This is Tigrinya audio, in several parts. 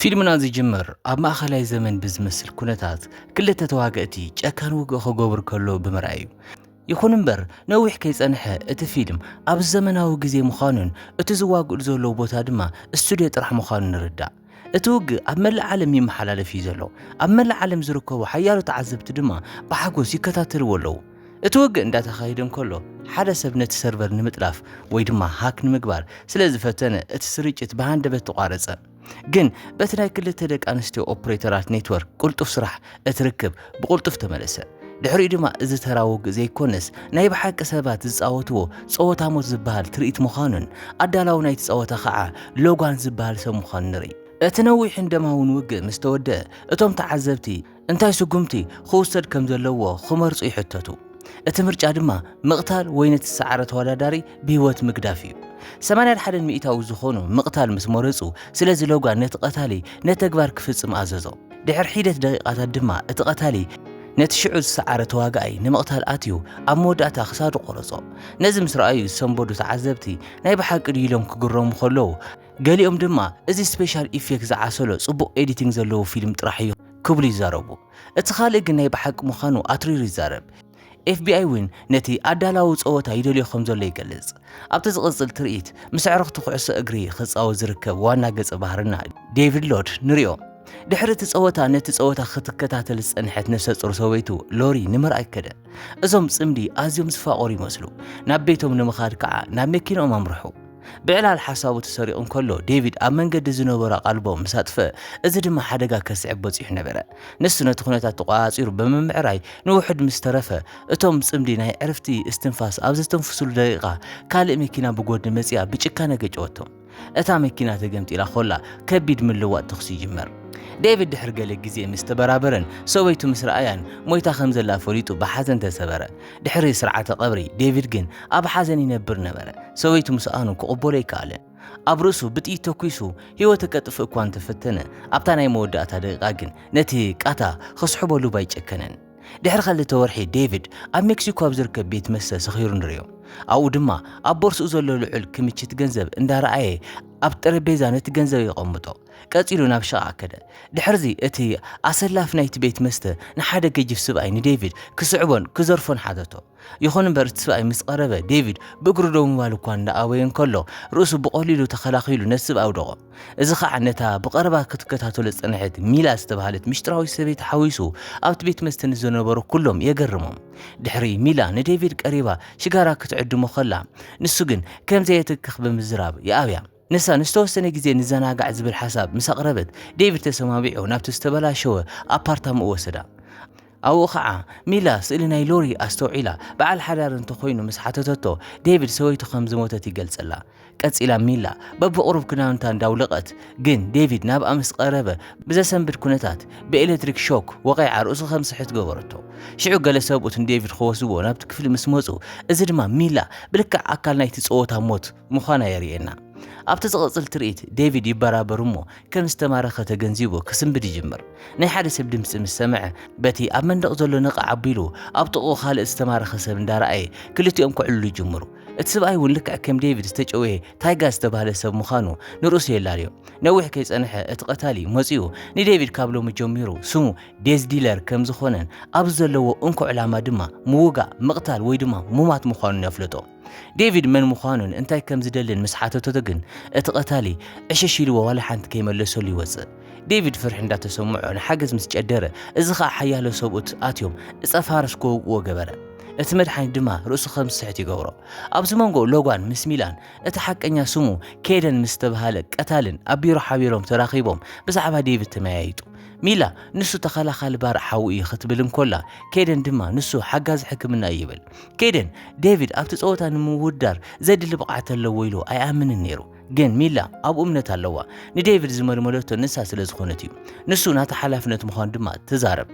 ፊልምና ዝጅምር ኣብ ማእኸላይ ዘመን ብዝመስል ኩነታት ክልተ ተዋገእቲ ጨካን ውግእ ክገብሩ ከለዉ ብምርኣይ እዩ። ይኹን እምበር ነዊሕ ከይጸንሐ እቲ ፊልም ኣብ ዘመናዊ ግዜ ምዃኑን እቲ ዝዋግእሉ ዘለዉ ቦታ ድማ ስቱድዮ ጥራሕ ምዃኑ ንርዳእ። እቲ ውግእ ኣብ መላእ ዓለም ይመሓላለፍ እዩ ዘሎ፣ ኣብ መላእ ዓለም ዝርከቡ ሓያሎ ተዓዘብቲ ድማ ብሓጎስ ይከታተልዎ ኣለዉ። እቲ ውግእ እንዳተኻየደ እንከሎ ሓደ ሰብ ነቲ ሰርቨር ንምጥላፍ ወይ ድማ ሃክ ንምግባር ስለ ዝፈተነ እቲ ስርጭት ብሃንደበት ተቋረጸ። ግን በቲ ናይ ክልተ ደቂ ኣንስትዮ ኦፕሬተራት ኔትወርክ ቅልጡፍ ስራሕ እቲ ርክብ ብቕልጡፍ ተመለሰ። ድሕሪኡ ድማ እዚ ተራ ውግእ ዘይኮነስ ናይ ብሓቂ ሰባት ዝጻወትዎ ጸወታ ሞት ዝበሃል ትርኢት ምዃኑን ኣዳላዊ ናይቲ ጸወታ ኸዓ ሎጋን ዝበሃል ሰብ ምዃኑ ንርኢ። እቲ ነዊሕን ደማውን ውግእ ምስ ተወድኣ እቶም ተዓዘብቲ እንታይ ስጉምቲ ክውሰድ ከም ዘለዎ ክመርጹ ይሕተቱ። እቲ ምርጫ ድማ ምቕታል ወይ ነቲ ዝሰዓረ ተወዳዳሪ ብህይወት ምግዳፍ እዩ። ሰማንያ ሓደን ሚእታዊ ዝኾኑ ምቕታል ምስ መረጹ፣ ስለዚ ሎጋን ነቲ ቀታሊ ነቲ ተግባር ክፍጽም ኣዘዞ። ድሕሪ ሒደት ደቒቓታት ድማ እቲ ቀታሊ ነቲ ሽዑ ዝሰዓረ ተዋጋኣይ ንምቕታል ኣትዩ ኣብ መወዳእታ ክሳዱ ቆረጾ። ነዚ ምስ ረኣዩ ዝሰንበዱ ተዓዘብቲ ናይ ብሓቂ ድዩ ኢሎም ክግረሙ ከለዉ፣ ገሊኦም ድማ እዚ ስፔሻል ኢፌክት ዝዓሰሎ ጽቡቕ ኤዲቲንግ ዘለዎ ፊልም ጥራሕ እዩ ክብሉ ይዛረቡ። እቲ ካልእ ግን ናይ ብሓቂ ምዃኑ ኣትሪሩ ይዛረብ። ኤፍቢኣይ እውን ነቲ ኣዳላዊ ጸወታ ይደልዮ ከም ዘሎ ይገልጽ። ኣብቲ ዝቕጽል ትርኢት ምስ ኣዕሩኽቲ ኩዕሶ እግሪ ክጻወት ዝርከብ ዋና ገጸ ባህርና ዴቪድ ሎድ ንሪኦ። ድሕሪ እቲ ጸወታ ነቲ ጸወታ ክትከታተል ዝጸንሐት ነፍሰ ጾር ሰበይቱ ሎሪ ንምርኣይ ከደ። እዞም ጽምዲ ኣዝዮም ዝፋቐሩ ይመስሉ። ናብ ቤቶም ንምኻድ ከኣ ናብ መኪንኦም ኣምርሑ። ብዕላል ሓሳቡ ተሰሪቑ እንከሎ ዴቪድ ኣብ መንገዲ ዝነበሩ ኣቓልቦ ምስ ኣጥፍአ፣ እዚ ድማ ሓደጋ ከስዕብ በጺሑ ነበረ። ንሱ ነቲ ዅነታት ተቖጻጺሩ ብምምዕራይ ንውሑድ ምስ ተረፈ፣ እቶም ጽምዲ ናይ ዕርፍቲ እስትንፋስ ኣብ ዘስተንፍሱሉ ደቂቓ፣ ካልእ መኪና ብጐድኒ መጺኣ ብጭካነ ገጨወቶም። እታ መኪና ተገምጢላ ዀላ፣ ከቢድ ምልውዋጥ ተዅሲ ይጅመር። ዴቪድ ድሕሪ ገለ ግዜ ምስ ተበራበረን ሰበይቱ ምስ ረኣያን፣ ሞይታ ከም ዘላ ፈሊጡ ብሓዘን ተሰበረ። ድሕሪ ስርዓተ ቀብሪ ዴቪድ ግን ኣብ ሓዘን ይነብር ነበረ፣ ሰበይቱ ምስኣኑ ክቕበሎ ኣይከኣለን። ኣብ ርእሱ ብጥይት ተኲሱ ህይወቱ ከጥፍእ እኳ እንተ ፈተነ፣ ኣብታ ናይ መወዳእታ ደቒቓ ግን ነቲ ቃታ ኽስሕበሉ ባይጨከነን። ድሕሪ ኸልተ ወርሒ ዴቪድ ኣብ ሜክሲኮ ኣብ ዝርከብ ቤት መስተ ሰኺሩ ንርእዮ። ኣብኡ ድማ ኣብ ቦርስኡ ዘሎ ልዑል ክምችት ገንዘብ እንዳ ረኣየ ኣብ ጠረጴዛ ነቲ ገንዘብ የቐምጦ። ቀጺሉ ናብ ሽቓ ከደ። ድሕርዚ እቲ ኣሰላፊ ናይቲ ቤት መስተ ንሓደ ገጂፍ ስብኣይ ንዴቪድ ክስዕቦን ክዘርፎን ሓተቶ። ይኹን እምበር እቲ ስብኣይ ምስ ቐረበ ዴቪድ ብእግሩ ደው ምባል እኳ እንዳ ኣበየ እንከሎ ርእሱ ብቐሊሉ ተኸላኺሉ ነቲ ስብ ኣውደቖ። እዚ ኸኣ ነታ ብቐረባ ክትከታተሎ ዝጸንሐት ሚላ ዝተባህለት ምሽጥራዊት ሰበይቲ ሓዊሱ ኣብቲ ቤት መስተ ንዝነበሩ ኩሎም የገርሞም። ድሕሪ ሚላ ንዴቪድ ቀሪባ ሽጋራ ክትዕድሞ ከላ ንሱ ግን ከም ዘየትክኽ ብምዝራብ ይኣብያ። ንሳ ንዝተወሰነ ግዜ ንዘናጋዕ ዝብል ሓሳብ ምስ ኣቕረበት፣ ዴቪድ ተሰማሚዑ ናብቲ ዝተበላሸወ ኣፓርታማኡ ወሰዳ። ኣብኡ ኸኣ ሚላ ስእሊ ናይ ሎሪ ኣስተውዒላ በዓል ሓዳር እንተ ዀይኑ ምስ ሓተተቶ፣ ዴቪድ ሰበይቱ ኸም ዝሞተት ይገልጸላ። ቀጺላ ሚላ በብቝሩብ ክዳውንታ እንዳውለቐት ግን ዴቪድ ናብኣ ምስ ቐረበ ብዘሰንብድ ኵነታት ብኤለትሪክ ሾክ ወቒዓ ርእሱ ኸም ዝስሕት ገበረቶ። ሽዑ ገለ ሰብኡት ንዴቪድ ኽወስድዎ ናብቲ ክፍሊ ምስ መጹ እዚ ድማ ሚላ ብልክዕ ኣካል ናይቲ ጸወታ ሞት ምዃና የርእየና። ኣብቲ ዝቕጽል ትርኢት፣ ዴቪድ ይበራበር እሞ ከም ዝተማረኸ ተገንዚቡ ክስንብድ ይጅምር። ናይ ሓደ ሰብ ድምጺ ምስ ሰምዐ፣ በቲ ኣብ መንደቕ ዘሎ ነቓዕ ኣቢሉ ኣብ ጥቕኡ ካልእ ዝተማረኸ ሰብ እንዳረኣየ ክልቲኦም ከዕልሉ ይጅምሩ። እቲ ስብኣይ እውን ልክዕ ከም ዴቪድ ዝተጨውየ ታይጋ ዝተባህለ ሰብ ምዃኑ ንርእሱ የላልዮ። ነዊሕ ከይጸንሐ እቲ ቀታሊ መጺኡ ንዴቪድ ካብ ሎሚ ጀሚሩ ስሙ ዴዝ ዲለር ከም ዝኾነን ኣብዚ ዘለዎ እንኮ ዕላማ ድማ ምውጋእ፣ ምቕታል ወይ ድማ ሙማት ምዃኑን የፍልጦ። ዴቪድ መን ምዃኑን እንታይ ከም ዝደልን ምስ ሓተተቶ ግን እቲ ቐታሊ ዕሽሽ ኢልዎ ዋላ ሓንቲ ከይመለሰሉ ይወጽእ። ዴቪድ ፍርሒ እንዳተሰምዖ ንሓገዝ ምስ ጨደረ እዚ ኸኣ ሓያሎ ሰብኡት ኣትዮም እጸ ፋርስ ክወግእዎ ገበረ። እቲ መድሓኒት ድማ ርእሱ ከም ዝስሕት ይገብሮ። ኣብዚ መንጎ ሎጋን ምስ ሚላን እቲ ሓቀኛ ስሙ ኬደን ምስ ዝተብሃለ ቀታልን ኣብ ቢሮ ሓቢሮም ተራኺቦም ብዛዕባ ዴቪድ ተመያይጡ። ሚላ ንሱ ተኸላኻሊ ባርዕ ሓዊ እዩ ክትብል እንኮላ ኬደን ድማ ንሱ ሓጋዚ ሕክምና እዩ ይብል። ኬደን ዴቪድ ኣብቲ ጸወታ ንምውዳር ዘድሊ ብቕዓት ኣለዎ ኢሉ ኣይኣምንን ነይሩ። ግን ሚላ ኣብኡ እምነት ኣለዋ። ንዴቪድ ዝመልመለቶ ንሳ ስለ ዝኾነት እዩ። ንሱ ናታ ሓላፍነት ምዃኑ ድማ ትዛረብ።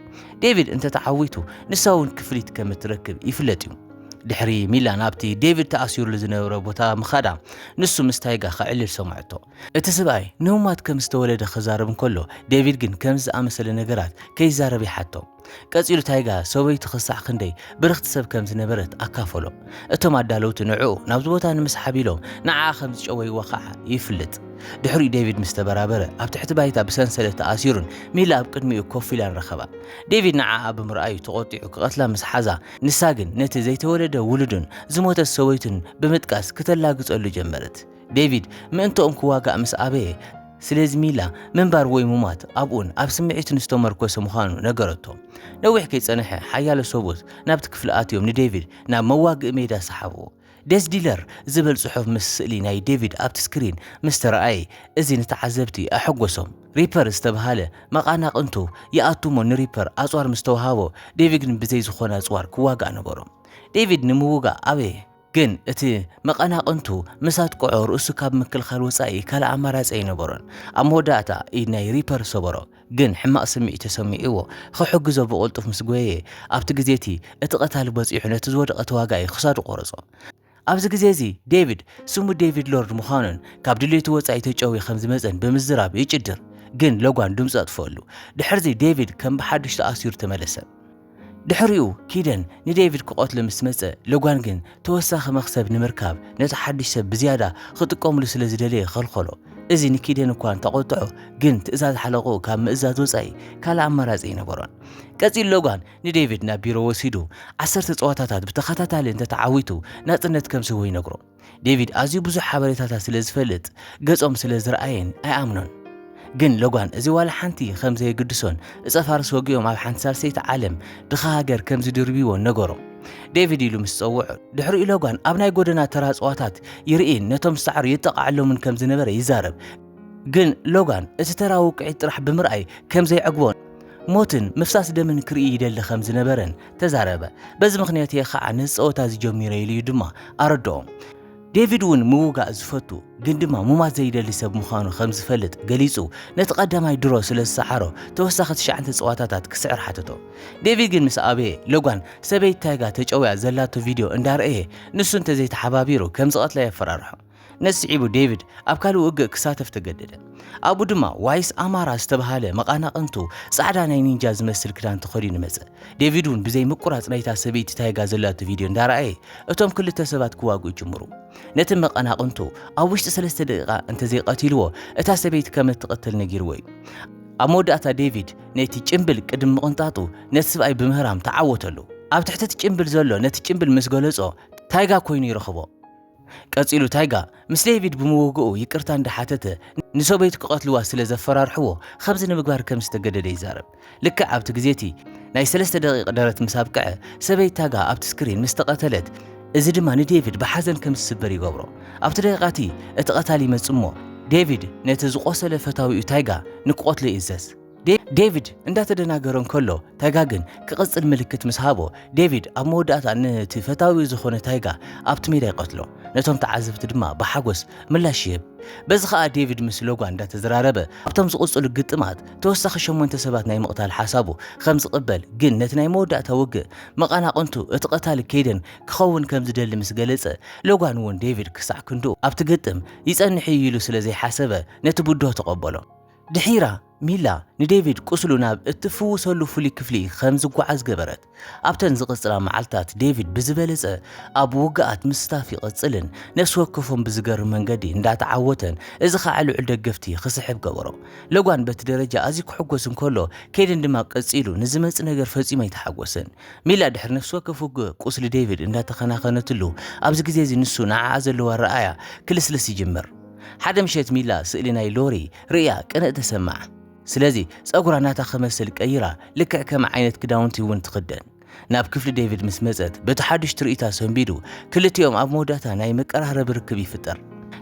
ዴቪድ እንተ ተዓዊቱ ንሳ እውን ክፍሊት ከም እትረክብ ይፍለጥ እዩ። ድሕሪ ሚላ ናብቲ ዴቪድ ተኣሲሩሉ ዝነበረ ቦታ ምኻዳ ንሱ ምስ ታይጋ ከዕልል ሰምዐቶ። እቲ ስብኣይ ንህሙማት ከም ዝተወለደ ክዛረብ እንከሎ ዴቪድ ግን ከምዚ ዝኣመሰለ ነገራት ከይዛረብ ይሓቶ። ቀጺሉ ታይጋ ሰበይቱ ክሳዕ ክንደይ ብርኽቲ ሰብ ከም ዝነበረት ኣካፈሎ። እቶም ኣዳለውቲ ንዕኡ ናብዚ ቦታ ንምስሓብ ኢሎም ንዓኣ ከም ዝጨወይዋ ኸኣ ይፍልጥ። ድሕሪኡ ዴቪድ ምስ ተበራበረ ኣብ ትሕቲ ባይታ ብሰንሰለት ተኣሲሩን ሚላ ኣብ ቅድሚኡ ኮፍ ኢላን ረኸባ። ዴቪድ ንዓኣ ብምርኣዩ ተቖጢዑ ክቐትላ ምስ ሓዛ ንሳ ግን ነቲ ዘይተወለደ ውሉዱን ዝሞተት ሰበይቱን ብምጥቃስ ክተላግጸሉ ጀመረት። ዴቪድ ምእንትኦም ክዋጋእ ምስ ኣበየ፣ ስለዚ ሚላ ምንባር ወይ ምሟት ኣብኡን ኣብ ስምዒቱን ዝተመርኮሰ ምዃኑ ነገረቶ። ነዊሕ ከይጸንሐ ሓያሎ ሰብኡት ናብቲ ክፍሊ ኣትዮም ንዴቪድ ናብ መዋግኢ ሜዳ ሰሓብዎ። ዴዝ ዲለር ዝብል ጽሑፍ ምስ ስእሊ ናይ ዴቪድ ኣብቲ ስክሪን ምስ ተራእየ፣ እዚ ንተዓዘብቲ ኣሐጐሶም። ሪፐር ዝተበሃለ መቓናቕንቱ ይኣቱ እሞ ንሪፐር ኣጽዋር ምስ ተወሃቦ፣ ዴቪግ ግን ብዘይ ዝዀነ ኣጽዋር ክዋጋእ ነበሮ። ዴቪድ ንምውጋእ ኣበየ። ግን እቲ መቐናቕንቱ ምስ ኣጥቅዖ ርእሱ ካብ ምክልኻል ወጻኢ ካልእ ኣማራጺ ኣይነበሮን። ኣብ መወዳእታ ኢድ ናይ ሪፐር ሰበሮ፣ ግን ሕማቕ ስምዒት ተሰሚዕዎ ኽሕግዞ ብቕልጡፍ ምስ ጎየየ፣ ኣብቲ ግዜ እቲ እቲ ቐታሊ በጺሑ ነቲ ዝወደቐ ተዋጋኢ ኽሳዱ ቖረጾ። ኣብዚ ግዜ እዚ ዴቪድ ስሙ ዴቪድ ሎርድ ምዃኑን ካብ ድሌቱ ወጻኢ ተጨውዩ ከም ዝመጸን ብምዝራብ ይጭድር፣ ግን ሎጋን ድምጹ ኣጥፍኣሉ። ድሕርዚ ዴቪድ ከም ብሓድሽ ተኣሲሩ ተመለሰ። ድሕሪኡ ኪደን ንዴቪድ ክቐትሎ ምስ መጸ፣ ሎጋን ግን ተወሳኺ መኽሰብ ንምርካብ ነቲ ሓድሽ ሰብ ብዝያዳ ክጥቀሙሉ ስለ ዝደለየ ኸልኸሎ። እዚ ንኪደን እኳ እንተ ቖጥዖ፣ ግን ትእዛዝ ሓለቓኡ ካብ ምእዛዝ ወጻኢ ካልእ ኣማራጺ ኣይነበሮን። ቀጺሉ ሎጋን ንዴቪድ ናብ ቢሮ ወሲዱ ዓሰርተ ጸወታታት ብተኸታታሊ እንተ ተዓዊቱ ናጽነት ከም ዝህቦ ይነግሮ። ዴቪድ ኣዝዩ ብዙሕ ሓበሬታታት ስለ ዝፈልጥ ገጾም ስለ ዝረኣየን ኣይኣምኖን። ግን ሎጋን እዚ ዋላ ሓንቲ ከም ዘየግድሶን እጸ ፋርስ ወጊኦም ኣብ ሓንቲ ሳልሰይቲ ዓለም ድኻ ሃገር ከም ዝድርብይዎን ነገሮ። ዴቪድ ኢሉ ምስ ጸውዖ ድሕሪኡ ሎጋን ኣብ ናይ ጎደና ተራ ጽዋታት ይርእይን ነቶም ዝሰዓሩ የጠቓዓሎምን ከም ዝነበረ ይዛረብ። ግን ሎጋን እቲ ተራ ውቅዒት ጥራሕ ብምርኣይ ከም ዘይዕግቦን ሞትን ምፍሳስ ደምን ክርኢ ይደሊ ከም ዝነበረን ተዛረበ። በዚ ምኽንያት እየ ኸኣ ነዚ ጸወታ እዚ ጀሚረ ኢሉ እዩ ድማ ኣረድኦም። ዴቪድ እውን ምውጋእ ዝፈቱ ግን ድማ ሙማት ዘይደሊ ሰብ ምዃኑ ከም ዝፈልጥ ገሊጹ ነቲ ቀዳማይ ድሮ ስለ ዝሰዓሮ ተወሳኺ ትሽዓን ተጸዋታታት ክስዕር ሓተቶ። ዴቪድ ግን ምስ ኣበየ ሎጋን ሰበይቲ ታይጋ ተጨውያ ዘላቶ ቪድዮ እንዳርኣየ ንሱ እንተዘይተሓባቢሩ ከም ዝቐትላ የፈራርሖ። ነዚ ስዒቡ ዴቪድ ኣብ ካልእ ውግእ ክሳተፍ ተገደደ። ኣብኡ ድማ ዋይስ ኣማራ ዝተብሃለ መቓናቕንቱ ጻዕዳ ናይ ኒንጃ ዝመስል ክዳን ተኸዲኑ መጸ። ዴቪድ እውን ብዘይ ምቁራጽ ናይታ ሰበይቲ ታይጋ ዘላቶ ቪድዮ እንዳረኣየ እቶም ክልተ ሰባት ክዋግኡ ይጅምሩ። ነቲ መቐናቕንቱ ኣብ ውሽጢ ሰለስተ ደቂቓ እንተዘይቐቲልዎ እታ ሰበይቲ ከም እትቕተል ነጊርዎ እዩ። ኣብ መወዳእታ ዴቪድ ነቲ ጭምብል ቅድሚ ምቕንጣጡ ነቲ ስብኣይ ብምህራም ተዓወተሉ። ኣብ ትሕቲ እቲ ጭምብል ዘሎ ነቲ ጭምብል ምስ ገለጾ ታይጋ ኮይኑ ይረኽቦ። ቀጺሉ ታይጋ ምስ ዴቪድ ብምውግኡ ይቅርታ እንዳሓተተ ንሰበይቱ ክቐትልዋ ስለ ዘፈራርሕዎ ኸምዚ ንምግባር ከም ዝተገደደ ይዛረብ። ልክዕ ኣብቲ ግዜቲ ናይ ሰለስተ ደቒቕ ደረት ምስ ኣብቅዐ ሰበይት ታጋ ኣብቲ ስክሪን ምስ ተቐተለት እዚ ድማ ንዴቪድ ብሓዘን ከም ዝስበር ይገብሮ። ኣብቲ ደቒቓቲ እቲ ቐታሊ ይመጽእሞ ዴቪድ ነቲ ዝቖሰለ ፈታዊኡ ታይጋ ንክቖትሎ ይእዘዝ። ዴቪድ እንዳተደናገረ እንከሎ ታይጋ ግን ክቕጽል ምልክት ምስ ሃቦ ዴቪድ ኣብ መወዳእታ ነቲ ፈታዊኡ ዝኾነ ታይጋ ኣብቲ ሜዳ ይቐትሎ። ነቶም ተዓዘብቲ ድማ ብሓጎስ ምላሽ ይህብ። በዚ ከኣ ዴቪድ ምስ ሎጋን እንዳተዘራረበ ኣብቶም ዝቕጽሉ ግጥማት ተወሳኺ ሸሞንተ ሰባት ናይ ምቕታል ሓሳቡ ከም ዝቕበል ግን ነቲ ናይ መወዳእታ ውግእ መቐናቕንቱ እቲ ቀታሊ ኬይደን ክኸውን ከም ዝደሊ ምስ ገለጸ ሎጋን እውን ዴቪድ ክሳዕ ክንድኡ ኣብቲ ግጥም ይጸንሕ'ዩ ኢሉ ስለ ዘይሓሰበ ነቲ ብድሆ ተቐበሎ። ድሒራ፣ ሚላ ንዴቪድ ቁስሉ ናብ እትፍውሰሉ ፍሉይ ክፍሊ ኸም ዚጐዓዝ ገበረት። ኣብተን ዚቕጽላ መዓልትታት፣ ዴቪድ ብዝበለጸ ኣብ ውግኣት ምስታፍ ይቕጽልን ነፍሲ ወከፎም ብዚገርም መንገዲ እንዳተዓወተን፣ እዚ ኸኣ ልዑል ደገፍቲ ኺስሕብ ገበሮ። ለጓን በቲ ደረጃ ኣዝዩ ኪሕጐስ እንከሎ፣ ኬደን ድማ ቀጺሉ ንዚመጽእ ነገር ፈጺሙ ኣይተሓጐሰን። ሚላ ድሕሪ ነፍሲ ወከፍ ውግእ ቁስሊ ዴቪድ እንዳተኸናኸነትሉ፣ ኣብዚ ግዜ እዚ ንሱ ንዓኣ ዘለዎ ኣረኣእያ ኪልስልስ ይጅምር። ሓደ ምሸት ሚላ ስእሊ ናይ ሎሪ ርእያ ቅንእ ተሰምዓ። ስለዚ ጸጉራ ናታ ክመስል ቀይራ ልክዕ ከም ዓይነት ክዳውንቲ እውን ትኽደን። ናብ ክፍሊ ዴቪድ ምስ መጸት በቲ ሓዱሽ ትርኢታ ሰንቢዱ ክልቲኦም ኣብ መወዳእታ ናይ መቀራረቢ ርክብ ይፍጠር።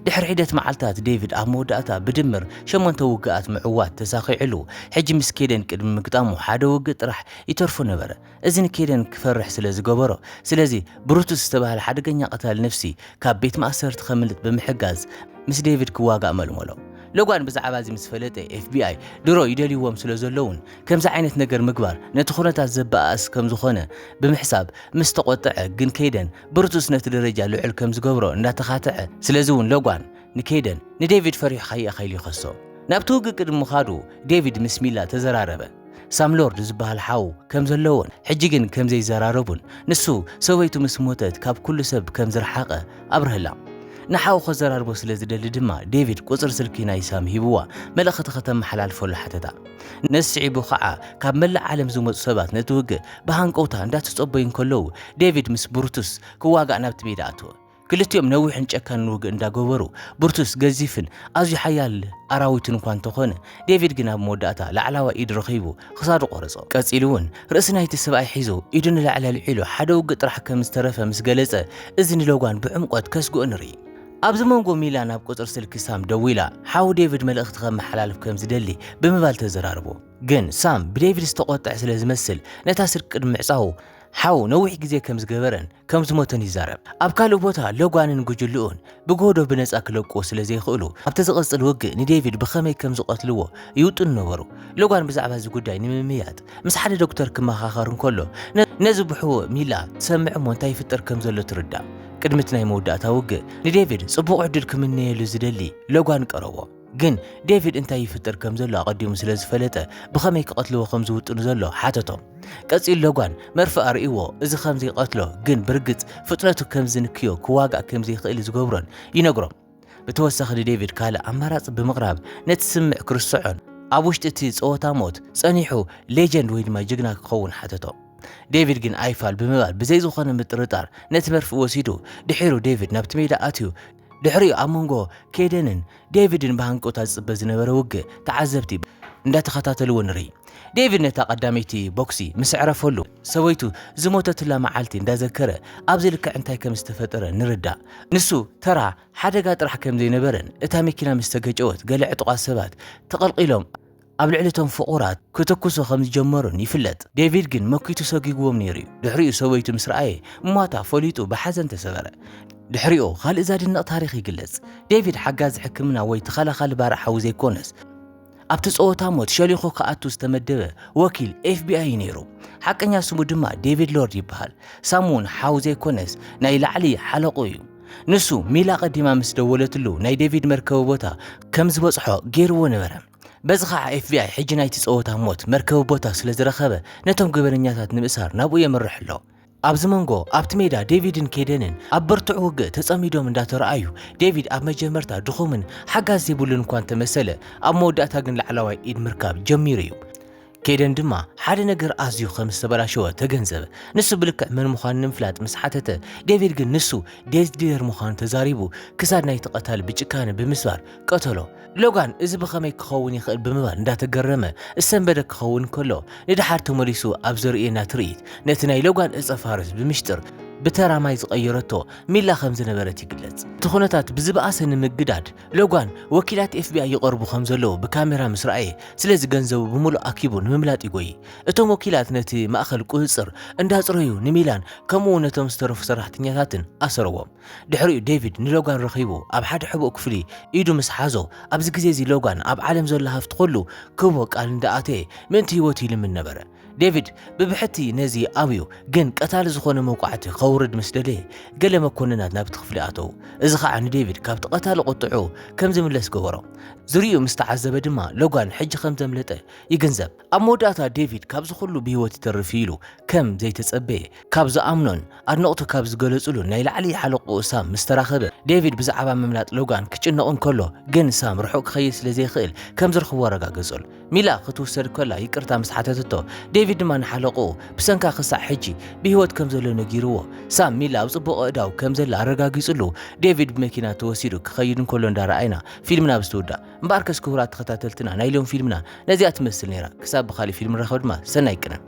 ድሕሪ ሒደት መዓልታት ዴቪድ ኣብ መወዳእታ ብድምር ሸሞንተ ውግኣት ምዕዋት ተሳኺዕሉ። ሕጂ ምስ ኬደን ቅድሚ ምግጣሙ ሓደ ውግእ ጥራሕ ይተርፎ ነበረ። እዚ ንኬደን ክፈርሕ ስለ ዝገበሮ፣ ስለዚ ብሩቱስ ዝተባህለ ሓደገኛ ቀታሊ ነፍሲ ካብ ቤት ማእሰርቲ ከምልጥ ብምሕጋዝ ምስ ዴቪድ ክዋጋእ መልመሎ። ሎጋን ብዛዕባ እዚ ምስ ፈለጠ፣ ኤፍቢኣይ ድሮ ይደልይዎም ስለ ዘለዉን ከምዚ ዓይነት ነገር ምግባር ነቲ ዅነታት ዘበኣእስ ከም ዝዀነ ብምሕሳብ ምስ ተቖጥዐ፣ ግን ኬደን ብሩቱስ ነቲ ደረጃ ልዑል ከም ዝገብሮ እንዳተኻትዐ፣ ስለዚ'ውን ሎጋን ንኬደን ንዴቪድ ፈሪሑካ ኢየ ከኢሉ ይኸሶ። ናብቲ ውግእ ቅድሚ ምኻዱ ዴቪድ ምስ ሚላ ተዘራረበ። ሳም ሎርድ ዝበሃል ሓው ከም ዘለዎን ሕጂ ግን ከም ዘይዘራረቡን ንሱ ሰበይቱ ምስ ሞተት ካብ ኩሉ ሰብ ከም ዝረሓቐ ኣብረሀላ። ንሓው ከዘራርቦ ስለ ዝደሊ ድማ ዴቪድ ቁጽሪ ስልኪ ናይ ሳም ሂብዋ መልእኽቲ ከተመሓላልፈሉ ሓተታ። ነዚ ስዒቡ ኸኣ ካብ መላእ ዓለም ዝመጹ ሰባት ነቲ ውግእ ብሃንቀውታ እንዳተጸበዩ እንከለዉ ዴቪድ ምስ ብሩቱስ ክዋጋእ ናብቲ ሜዳ ኣተወ። ክልቲኦም ነዊሕን ጨካንን ውግእ እንዳገበሩ ብርቱስ ገዚፍን ኣዝዩ ሓያል ኣራዊትን እኳ እንተኾነ ዴቪድ ግን ኣብ መወዳእታ ላዕላዋይ ኢድ ረኺቡ ክሳዱ ቆረጾ። ቀጺሉ እውን ርእሲ ናይቲ ሰብኣይ ሒዙ ኢዱ ንላዕሊ ኣልዒሉ ሓደ ውግእ ጥራሕ ከም ዝተረፈ ምስ ገለጸ እዚ ንሎጋን ብዕምቆት ከስግኦ ንርኢ። ኣብዚ መንጎ ሚላ ናብ ቁጽሪ ስልኪ ሳም ደዊላ ሓው ዴቪድ መልእኽቲ ከመሓላልፍ ከም ዝደሊ ብምባል ተዘራርቦ። ግን ሳም ብዴቪድ ዝተቖጥዐ ስለ ዝመስል ነታ ስልኪ ቅድሚ ምዕጻዉ ሓው ነዊሕ ግዜ ከም ዝገበረን ከም ዝሞተን ይዛረብ። ኣብ ካልእ ቦታ ሎጋንን ጉጅልኡን ብጎህዶ ብነጻ ክለቅዎ ስለ ዘይክእሉ ኣብቲ ዝቐጽል ውግእ ንዴቪድ ብኸመይ ከም ዝቐትልዎ ይውጥኑ ነበሩ። ሎጋን ብዛዕባ እዚ ጉዳይ ንምምይያጥ ምስ ሓደ ዶክተር ክመኻኸር እንከሎ ነዚ ብሕቡእ ሚላ ትሰምዕ እሞ እንታይ ይፍጠር ከም ዘሎ ትርዳእ። ቅድሚ እቲ ናይ መወዳእታ ውግእ ንዴቪድ ጽቡቕ ዕድል ክምነየሉ ዝደሊ ሎጋን ቀረቦ። ግን ዴቪድ እንታይ ይፍጥር ከም ዘሎ ኣቐዲሙ ስለ ዝፈለጠ ብኸመይ ክቐትልዎ ከም ዝውጥኑ ዘሎ ሓተቶም። ቀጺሉ ሎጓን መርፍእ ኣርእይዎ፣ እዚ ከም ዘይቀትሎ ግን ብርግጽ ፍጥነቱ ከም ዝንክዮ ክዋጋእ ከም ዘይክእል ዝገብሮን ይነግሮም። ብተወሳኺ ንዴቪድ ካልእ ኣማራጺ ብምቕራብ ነቲ ስምምዕ ክርስዖን ኣብ ውሽጢ እቲ ጸወታ ሞት ጸኒሑ ሌጀንድ ወይ ድማ ጅግና ክኸውን ሓተቶ። ዴቪድ ግን ኣይፋል ብምባል ብዘይ ዝኾነ ምጥርጣር ነቲ መርፍእ ወሲዱ። ድሒሩ ዴቪድ ናብቲ ሜዳ ኣትዩ። ድሕሪኡ ኣብ መንጎ ኬደንን ዴቪድን ብሃንቀውታ ዝጽበ ዝነበረ ውግእ ተዓዘብቲ እንዳተኸታተልዎ ንርኢ። ዴቪድ ነታ ቀዳመይቲ ቦክሲ ምስ ኣዕረፈሉ ሰበይቱ ዝሞተትላ መዓልቲ እንዳዘከረ ኣብዚ ልክዕ እንታይ ከም ዝተፈጠረ ንርዳእ። ንሱ ተራ ሓደጋ ጥራሕ ከም ዘይነበረን እታ መኪና ምስ ተገጨወት ገለ ዕጡቓት ሰባት ተቐልቒሎም ኣብ ልዕሊ እቶም ፍቑራት ክትኩሱ ከም ዝጀመሩን ይፍለጥ። ዴቪድ ግን መኪቱ ሰጒጉዎም ነይሩ እዩ። ድሕሪኡ ሰበይቱ ምስ ረኣየ ሟታ ፈሊጡ ብሓዘን ተሰበረ። ድሕሪኡ ካልእ ዘድንቕ ታሪኽ ይግለጽ። ዴቪድ ሓጋዚ ሕክምና ወይ ተኸላኻሊ ባርዕ ሓዊ ዘይኰነስ፣ ኣብቲ ጸወታ ሞት ሸሊኹ ክኣቱ ዝተመደበ ወኪል ኤፍቢኣይ እዩ ነይሩ። ሓቀኛ ስሙ ድማ ዴቪድ ሎርድ ይበሃል። ሳም እውን ሓው ዘይኰነስ ናይ ላዕሊ ሓለቕኡ እዩ። ንሱ ሚል ኣቐዲማ ምስ ደወለትሉ ናይ ዴቪድ መርከቢ ቦታ ከም ዝበጽሖ ገይሩዎ ነበረ። በዚ ኸኣ ኤፍቢኣይ ሕጂ ናይቲ ጸወታ ሞት መርከቢ ቦታ ስለ ዝረኸበ ነቶም ገበነኛታት ንምእሳር ናብኡ የምርሕ ኣሎ። ኣብዚ መንጎ ኣብቲ ሜዳ ዴቪድን ኬደንን ኣብ ብርቱዕ ውግእ ተጸሚዶም እንዳተረኣዩ ዴቪድ ኣብ መጀመርታ ድኹምን ሓጋዝ ዘይብሉን እኳ እንተመሰለ ኣብ መወዳእታ ግን ላዕላዋይ ኢድ ምርካብ ጀሚሩ እዩ። ኬደን ድማ ሓደ ነገር ኣዝዩ ከም ዝተበላሸወ ተገንዘበ። ንሱ ብልክዕ መን ምዃኑ ንምፍላጥ ምስ ሓተተ፣ ዴቪድ ግን ንሱ ዴዝ ዲለር ምዃኑ ተዛሪቡ ክሳድ ናይቲ ቀታሊ ብጭካነ ብምስባር ቀተሎ። ሎጋን እዚ ብኸመይ ክኸውን ይኽእል ብምባል እንዳተገረመ ዝሰንበደ ክኸውን እንከሎ፣ ንደሓር ተመሊሱ ኣብ ዘርእየና ትርኢት ነቲ ናይ ሎጋን ዕጸ ፋርስ ብምሽጥር ብተራ ማይ ዝቐየረቶ ሚላ ከም ዝነበረት ይግለጽ። እቲ ኩነታት ብዝበኣሰ ንምግዳድ ሎጓን፣ ወኪላት ኤፍቢኣይ ይቐርቡ ከም ዘለዉ ብካሜራ ምስ ረኣየ፣ ስለዚ ገንዘቡ ብምሉእ ኣኪቡ ንምምላጥ ይጎዪ። እቶም ወኪላት ነቲ ማእከል ቍጽጽር እንዳጽረዩ ንሚላን ከምኡውን ነቶም ዝተረፉ ሰራሕተኛታትን ኣሰረዎም። ድሕሪኡ ዴቪድ ንሎጋን ረኺቡ ኣብ ሓደ ሕቡእ ክፍሊ ኢዱ ምስ ሓዞ፣ ኣብዚ ግዜ እዚ ሎጋን ኣብ ዓለም ዘሎ ሃፍቲ ዅሉ ክህቦ ቃል እንዳኣተየ ምእንቲ ህይወቱ ይልምን ነበረ። ዴቪድ ብብሕቲ ነዚ ኣብዩ፣ ግን ቀታሊ ዝኾነ መውቃዕቲ ከውርድ ምስ ደለየ፣ ገለ መኮንናት ናብቲ ክፍሊ ኣተዉ። እዚ ኸኣ ንዴቪድ ካብቲ ቀታሊ ቁጥዕኡ ከም ዝምለስ ገበሮ። ዝርይኡ ምስ ተዓዘበ ድማ ሎጋን ሕጂ ከም ዘምለጠ ይግንዘብ። ኣብ መወዳእታ ዴቪድ ካብዚ ኹሉ ብህይወት ይተርፍ እዩ ኢሉ ከም ዘይተጸበየ ካብ ዝኣምኖን ኣድነቕቱ ካብ ዝገለጹሉን ናይ ላዕሊ ሓለቕኡ ሳም ምስ ተራኸበ፣ ዴቪድ ብዛዕባ ምምላጥ ሎጋን ክጭነቕ እንከሎ ግን ሳም ርሑቕ ክኸይድ ስለ ዘይክእል ከም ዝረኽቦ ኣረጋገጸሉ። ሚላ ክትውሰድ ከላ ይቅርታ ምስ ሓተተቶ፣ ዴቪድ ድማ ንሓለቕኡ ብሰንካ ክሳዕ ሕጂ ብህይወት ከም ዘሎ ነጊርዎ። ሳም ሚላ ኣብ ጽቡቕ ኣእዳው ከም ዘላ ኣረጋጊጽሉ፣ ዴቪድ ብመኪና ተወሲዱ ክኸይድ እንከሎ እንዳ ረኣይና ፊልምና ኣብ ዝትውዳእ። እምበኣርከስ ክቡራት ተኸታተልትና ናይ ሎም ፊልምና ነዚኣ ትመስል ነይራ ክሳብ ብኻሊእ ፊልም ንራኸብ ድማ ሰናይ ቅነ።